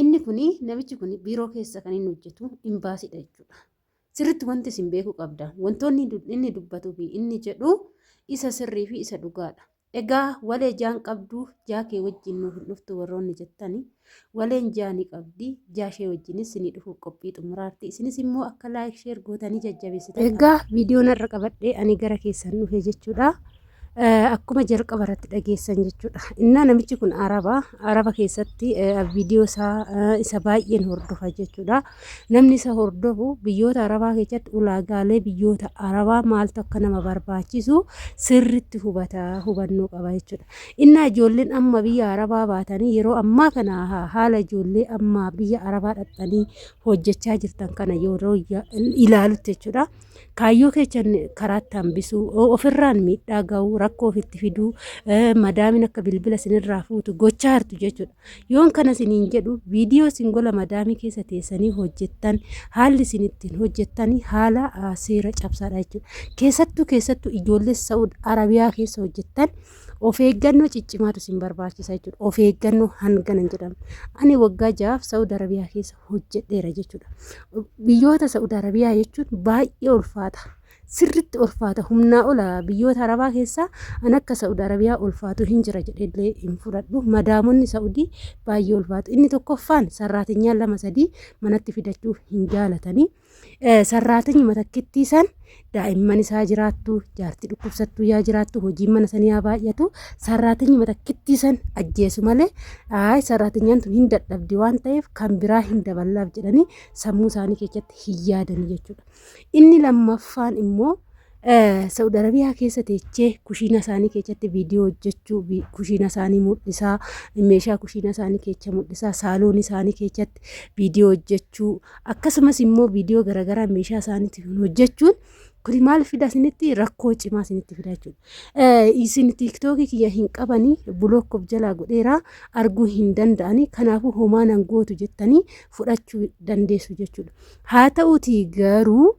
Inni kun namichi kun biiroo keessa kan inni hojjetu imbaasiidha jechuudha. Sirriitti wanti isin beekuu qabda. Wantoonni inni dubbatuu fi inni jedhu isa sirrii fi isa dhugaadha. Egaa walee jaan qabdu jaa kee wajjin nuuf hin dhuftu warroonni jettani waleen jaa ni qabdi jaa ishee wajjinis ni dhufuuf qophii xumuraarti isinis immoo akka laayik sheer gootanii jajjabeessitan. Egaa viidiyoon har'a qabadhee ani gara keessan dhufe jechuudha. Akkuma jalqaba irratti dhageessan jechuudha. Innaa namichi kun Araba, Araba keessatti viidiyoo isaa isa baay'een hordofa jechuudha. Namni isa hordofu biyyoota Arabaa keessatti ulaagaalee biyyoota Arabaa maaltu akka nama barbaachisu sirriitti hubata, hubannoo qaba jechuudha. Innaa ijoolleen amma biyya Arabaa baatanii yeroo ammaa kana haala ijoollee amma biyya Arabaa dhaqxanii hojjechaa jirtan kana yeroo ilaalutti jechuudha. Kaayyoo keessan karaatti hambisuu, ofirraan miidhaa ga'uu, rakkoo ofitti fiduu, madaamin akka bilbila sinirraa fuutu gochaa jirtu jechuudha. Yoon kana siniin jedhu viidiyoo sin gola madaamii keessa teessanii hojjettan haalli isin ittiin hojjettanii haala seera cabsaadha jechuudha. Keessattuu keessattuu ijoollee Sa'ud Arabiyaa keessa hojjettan Of eeggannoo ciccimaatu isin barbaachisa jechuudha. Of eeggannoo hangana hin jedhamu. Ani waggaa jahaaf Saudi Arabiyaa keessa hojjedheera jechuudha. Biyyoota Saudi Arabiyaa jechuun baay'ee ulfaata. Sirritti ulfaata humnaa ola biyyoota Arabaa keessaa an akka Saudi Arabiyaa ulfaatu hin jira jedhee hin fudhadhu. Madaamonni Saudi baay'ee ulfaatu. Inni tokkoffaan sarraatinyaan lama sadii manatti fidachuuf hin jaalatanii. sarraatanya matakkittii san daa'imman isaa jiraattu jaartii dhukkubsattuu yaa jiraattu hojiin mana sanii yaa baay'atu sarraatanya matakkittii san ajjeesu malee ayi sarraatanyaan tun hin dadhabdi waan ta'eef kan biraa hin daballaaf jedhanii sammuu isaanii keessatti hin yaadanii jechuudha. Inni lammaffaan immoo Sa'ud Arabiyaa keessa teechee kushiina isaanii keessatti viidiyoo hojjechuu, kushiina isaanii mul'isaa, meeshaa kushiina isaanii keessa mul'isaa, saaloon isaanii keessatti viidiyoo hojjechuu, akkasumas immoo viidiyoo garaagaraa meeshaa isaaniitiin hojjechuun kuni maal fida isinitti rakkoo cimaa isinitti fida jechuudha. Isin tiiktookii kiyya hin qabanii bulook of jalaa godheeraa arguu hin danda'anii kanaafuu homaa nan gootu jettanii fudhachuu dandeessu jechuudha. Haa ta'uutii garuu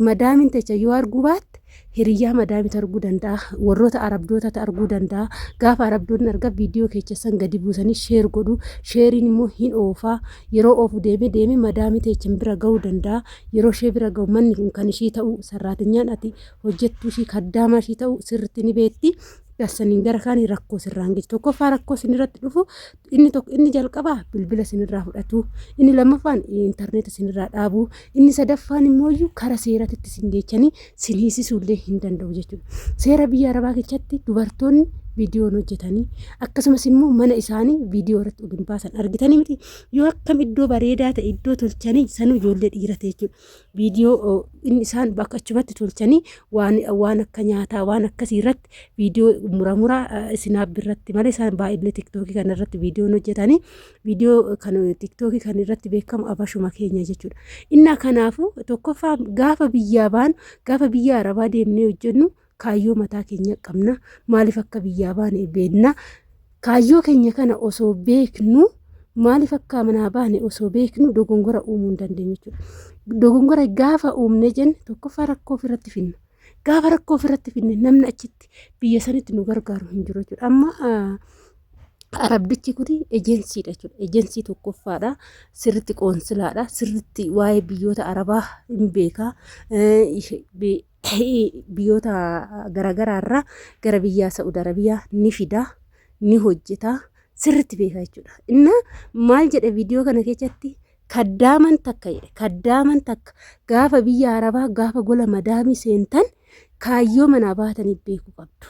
madaamin techa yoo arguu baatte hiriyyaa madaamit arguu danda'a warroota arabdootatti arguu danda'a gaafa arabdoonni arga viidiyoo keechessan gadi buusanii sheer godhu sheeriin immoo hin oofaa yeroo oofu deemee deemee madaamii teechan bira ga'uu danda'a yeroo ishee bira ga'u manni kun kan ishii ta'u sarraatinyaan ati hojjettuu ishii kaddaamaa ishii ta'u sirritti ni beetti dassaniin gara kaanii rakkoo sirraan geessu tokkoffaa rakkoo sinirratti dhufu inni tokko inni jalqabaa bilbila sinirraa fudhatu inni lammaffaan intarneeta sinirraa dhaabu inni sadaffaan immoo iyyuu kara seeratitti sin geechanii sin hiisisuullee hin danda'u jechuudha. Seera biyya arabaa keessatti dubartoonni viidiyoon hojjetanii akkasumas immoo mana isaanii viidiyoo irratti oduun baasan argitanii miti yoo akkam iddoo bareedaa ta'e iddoo tolchanii sanuu ijoollee dhiirate jechuudha. viidiyoo inni isaan bakka achumatti tolchanii waan waan akka nyaataa waan akkasii irratti viidiyoo mura mura isinaab irratti malee isaan baay'ee tiktookii kana irratti viidiyoon hojjetanii viidiyoo kan tiktookii kan irratti beekamu abashuma keenya jechuudha. Innaa kanaafuu tokkoffaa gaafa biyyaa baanu gaafa biyya arabaa deemnee hojjennu kaayyoo mataa keenya qabna maaliif akka biyyaa baane beekna kaayyoo keenya kana osoo beeknu maaliif akka manaa baane osoo beeknu dogongora uumuu hin dandeenyu jechuudha. Dogongora gaafa uumne jenne tokkoffaa rakkoo ofirratti finna. Gaafa rakkoo ofirratti finne namni achitti biyya sanitti nu gargaaru hin jiru jechuudha. Amma arabdichi kun ejensiidha jechuudha. Ejensii tokkoffaadha. Sirritti qoonsilaadha. Sirritti waa'ee biyyoota arabaa hin beeka. biyyoota garaagaraa irraa gara biyyaa Sa'ud Arabiyaa ni fida ni hojjeta sirritti beeka jechuudha. Inna maal jedhe viidiyoo kana keessatti kaddaaman takka jedhe kaddaaman takka gaafa biyya Arabaa gaafa gola madaamii seentan kaayyoo manaa baataniif beeku qabdu.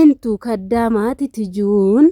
Intu kaddaamaa titijuun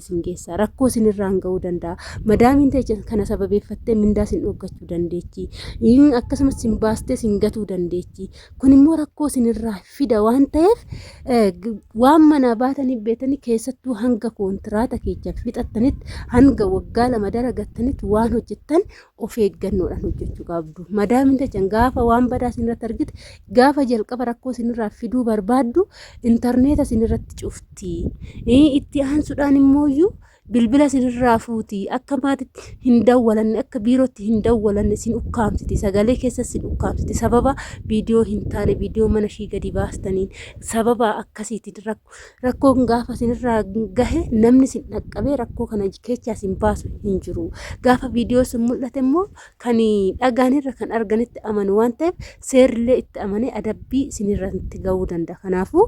isin geessa. Rakkoo isin irraan ga'uu danda'a. Madaamiin teessan kana sababeeffattee mindaa isin dhooggachuu dandeechi. Inni akkasumas isin baastee isin gatuu dandeechi. Kun immoo rakkoo isin irraa fida waan ta'eef eh, g- waan manaa baatanii beetanii keessattuu hanga koontiraata keechan fixattanitti hanga waggaa lama dalagattanitti waan hojjettan of eeggannoodhaan hojjechuu qabdu. Madaamin tachan gaafa waan badaa isinirratti argite gaafa jalqaba rakkoo isinirraa fiduu barbaaddu intarneeta isinirratti cufti. Itti aansuudhaan immoo iyyuu bilbila isinirraa fuuti akka maatitti hin dawwalanne akka biirootti hin dawwalanne isin ukkaamsiti sagalee keessa isin ukkaamsiti sababa viidiyoo hin taane viidiyoo mana ishii gadi baastaniin sababa akkasiitiin Rakkoon gaafa isinirraa gahe namni isin dhaqqabee rakkoo kana keessa isin baasu hin jiru. Gaafa viidiyoo isin mul'ate immoo kan dhagaanirra kan arganitti amanu waan ta'eef seerrillee itti amanee adabbii isinirratti ga'uu danda'a. Kanaafuu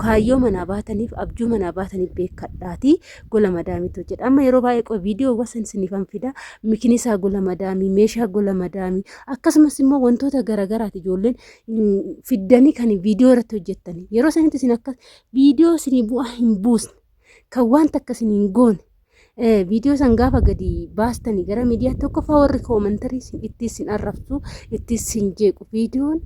kaayyoo manaa baataniif abjuu manaa baataniif beekadhaatii gola madaamiitu jedha. Amma yeroo baay'ee qoy viidiyoo wasan isiniif an fida mikinisaa gola madaamii meeshaa gola madaamii akkasumas immoo wantoota garaagaraati ijoolleen fiddanii kan viidiyoo irratti hojjettanii yeroo sanitti isin akka viidiyoo isinii bu'aa hin buusne kan wanta akka isin hin goone viidiyoo san gaafa gadi baastanii gara miidiyaa tokkoffaa warri koomantarii isin itti isin arrabsu itti isin jeequ viidiyoon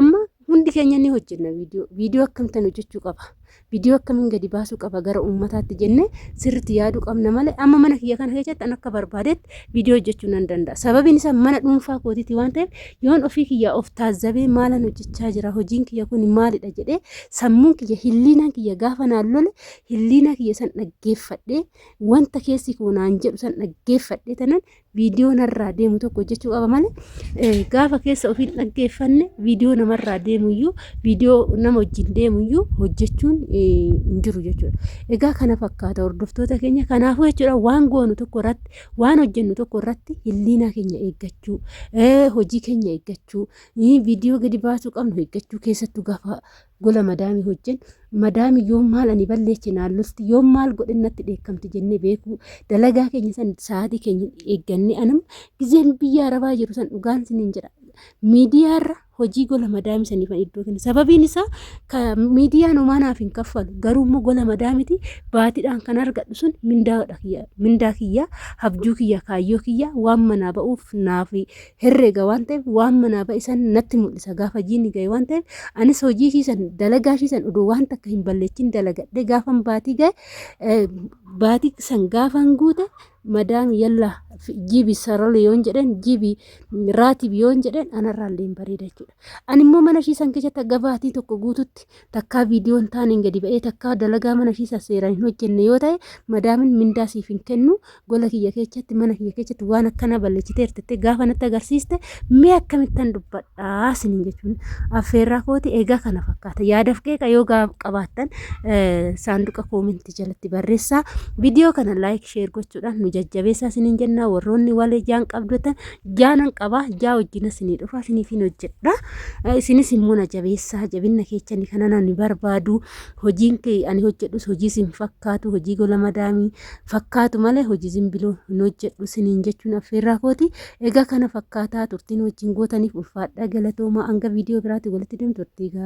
amma hundi keenya ni hojjenna viidiyoo viidiyoo akkamtan hojjechuu qaba Video akkamiin gadi baasuu qaba gara uummataatti jennee sirriitti yaaduu qabna malee amma mana kiyya kana keessatti an akka barbaadetti video hojjechuu nan danda'a. Sababiin isaa mana dhuunfaa kootiiti waan ta'eef yoon ofii kiyyaa of taazzabee maalan hojjechaa jira hojiin kiyya kun maalidha jedhee sammuun kiyya hilliinaan kiyya gaafa naan lole hilliinaa kiyya san dhaggeeffadhee wanta keessi koo naan jedhu san dhaggeeffadhee tanan viidiyoo narraa deemu tokko hojjechuu qaba malee eh, gaafa keessa ofiin dhaggeeffanne viidiyoo namarraa deemuyyuu viidiyoo nama wajjin deemuyyuu hojjechuun eh, hin jiru jechuudha. Egaa kana fakkaata hordoftoota keenya kanaafuu jechuudha waan goonu tokko irratti waan hojjennu tokko irratti hilliinaa keenya eeggachuu eh, hojii keenya eeggachuu eh, viidiyoo gadi baasuu qabnu eeggachuu keessattuu gaafa gola madaamii hojjen madaami yoom maal ani balleeche naan lolti yoom maal godhin natti dheekkamti jennee beekuu dalagaa keenya san sa'aatii keenya eeggannee anam gizeen biyya arabaa jiru san dhugaan siniin jedha miidiyaarra hojii gola madaami saniifan iddoo kenna sababiin isaa ka miidiyaan homaanaaf hin kaffalu garuu immoo gola madaamiti baatiidhaan kan argadhu sun mindaadha kiyya mindaa kiyya habjuu kiyya kaayyoo kiyya waan manaa ba'uuf naafi herrega waan ta'eef waan manaa ba'e san natti mul'isa gaafa jiini ga'e waan ta'eef anis hojii ishii san dalagaa ishii san odoo waan takka hin balleechin dalagadhe gaafan baatii ga'e eh, baatii san gaafan guute madaam yalla fi- jibi sarali yoon jedheen jibi raatibi yoon jedheen anarraa illee hin bareeda jechuudha. Ani immoo mana ishii san keessatti hanga baatii tokko guututti takkaa viidiyoo hin taaneen gadi ba'ee takkaa dalagaa mana ishiis seeraan hin hojjenne yoo ta'e madaamin mindaa siif hin kennu gola kiyya keessatti mana kiyya keessatti waan akkana balleessitee hirtettee gaafa natti agarsiiste mee akkamittan dubbadhaa siniin jechuun affeerraa kooti egaa kana fakkaata yaadaf qeeqa yoo qabaattan saanduqa koomentii jalatti barreessaa viidiyoo kana laayik sheer gochuudhaan nu jajjabeessaa siniin jennaa warroonni walee jaan qabdotan jaanan qaba jaa wajjina isinii dhufa isiniifin hojjedha isinis immoo na jabeessaa jabinna keechani kana nani barbaadu hojiin kee ani hojjedhus hojii isin fakkaatu hojii gola madaamii fakkaatu malee hojii zimbiloo hin hojjedhu isiniin jechuun affeerraa kooti egaa kana fakkaataa turtiin wajjin gootaniif ulfaadhaa galatoomaa hanga viidiyoo biraatti walitti deemtu turtii gaarii.